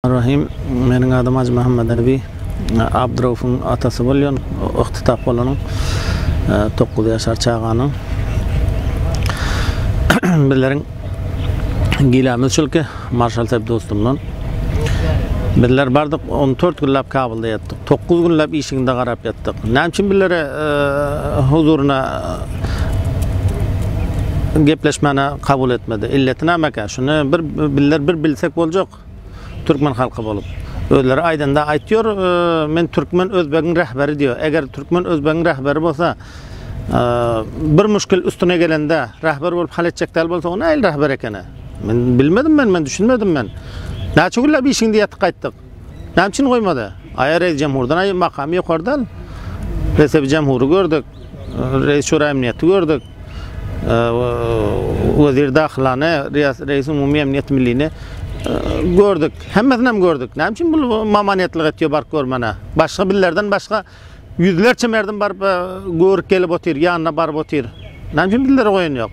Rahim Meniň adym Hajy Muhammet Ebi. Abdyraufuň atasy bolýan, ygtytap bolanyň, dokuz ýaşar çaganyň. Bizleriň gilämiz şulki, marşal Sep dostumdan. Bizler bardyk, on dört günläp Kabulda ýatdyk. Dokuz günläp işiginde garap ýatdyk. Näme üçin bizlere huzuryna gepleşmäne kabul etmedi? Illeti nämekä? Şuny bir bizler bir bilsek boljak. halk. Türkmen halky bolup. Özleri aýdanda aýtýor, men türkmen özbegiň rähberi diýýär. Eger türkmen özbegiň rähberi bolsa, bir muşkil üstüne gelende rähber bolup hal etjek däl bolsa, o nähili rähber ekeni? Men bilmedim men, men düşünmedim men. Näçe günläp işiňde ýatyp gaýtdyk. Näme üçin goýmady? Aýa reýs jamhurdan aýa makamy ýokardan. Resebi jamhury gördük. Reýs şura emniýeti gördük. Wezir Dahylany, Reýis Umumy Emniýet Millini gördük. Hemmesini hem gördük. Näme üçin bu mamanetlik etýär baryp görmäne? Başga bizlerden başga ýüzlerçe merdim baryp e, görüp gelip otyr, ýanyna baryp otyr. Näme üçin bizlere goýan ýok?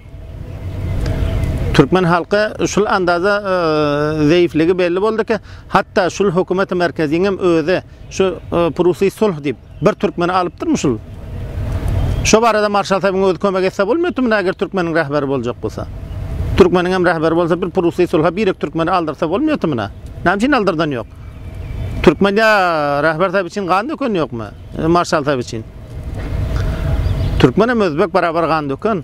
Türkmen halky şul andaza e, zeýifligi belli boldy ki, hatda şul hökümeti merkeziň hem özi şu e, Prusiý sulh diýip Bir türkmeni alypdyrmy şul. Şo barada marşal Saýbyň özi kömek etse bolmaýatdyrmy näger türkmeniň rähberi boljak bolsa. Türkmeniňem rähberi bolsa bir prusy sulha birek türkmeni aldyrsa bolmaýatmy nä. Näme üçin aldyrdany ýok. Türkmen ýa rähber Saýby üçin gan dökeni ýokmy. Marşal Saýby üçin. Türkmenem özbek barabar gan döken.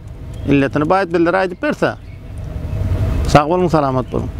Illetini baýt bildire aýdyp berse. Sag boluň salamat boluň.